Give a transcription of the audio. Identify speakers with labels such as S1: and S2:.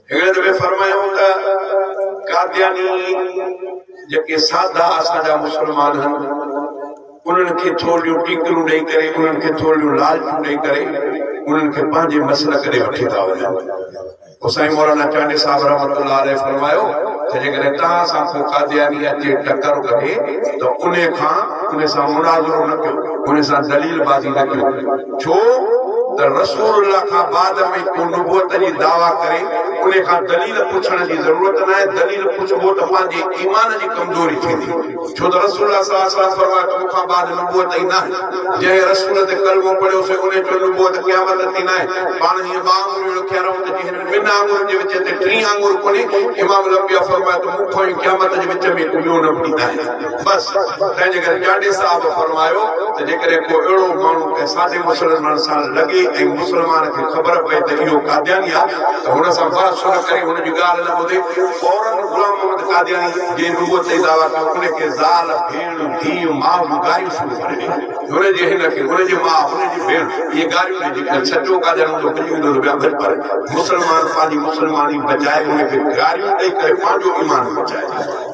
S1: هن ۾ فرمايائون ته قادياني جيڪي سادا اسان جا مسلمان هن انهن کي ٿورڙيون ٽيڪرون ڏئي ڪري انهن کي ٿورڙيون لالچون ڏئي ڪري انهن کي پنهنجي مسلڪ ڏي وٺي ٿا وڃن پوء سائين مولانا چانڊيي صاحب رحمت الله عليه فرمايو ته جيڪڏهن توهان سان ڪو قادياني اچي ٽڪر ڪري ته انهي کان انهي سان مناظرو نه ڪيو انهي سان دليل بازي نه ڪيو ڇو ته رسول الله کان بعد ۾ ڪو نبوت جي دعويٰ ڪري انهي کان دليل پڇڻ جي ضرورت ناهي، دليل پڇبو ته پنهنجي ايمان جي ڪمزوري ٿيندي، ڇو ته رسول الله صلي الله عليه وسلم فرمايو ته مون کان بعد نبوت ئي ناهي، جنهن رسول تي ڪلمو پڙهيو سي انهي چيو نبوت قيامت تي ناهي، پاڻ هيئن ٻه آڱريون رکي رهون ته جنهن ۾ ٻن آڱرين جي وچ تي ٽين آڱر ڪونهي، امام الانبياء فرمايو ته مون کان ئي قيامت جي وچ ۾ ڪو ٻيو نبي ناهي. بس، تنهنجي ڪري جاڙي صاحب فرمايو ته جيڪڏهن ڪو اهڙو ماڻهو ڪنهن ساڍي مسلمان سان لڳي ۽ مسلمان کي خبر پئي ته اهو قادياني آ ته هن سان بحث نه ڪري، هن جي ڳالهه نه ٻڌي، فورن غلام محمد قادياني جنهن نبوت جي دعويٰ ڪيو ان کي زال، ڀيڻ، ڌيء، ماء جون گاريون شروع ڪري ڏنيون. هن جي هن کي، هن جي ماء، هن جي ڀيڻ، اهي گاريون ڏئي جيڪڏهن سچو قادياني هوندو ڀڄي ويندو ته ٻيا ڀڄ پر مسلمان پنهنجي مسلماني بچائي ان کي گاريون ڏئي ڪري پنهنجو ايمان بچائي.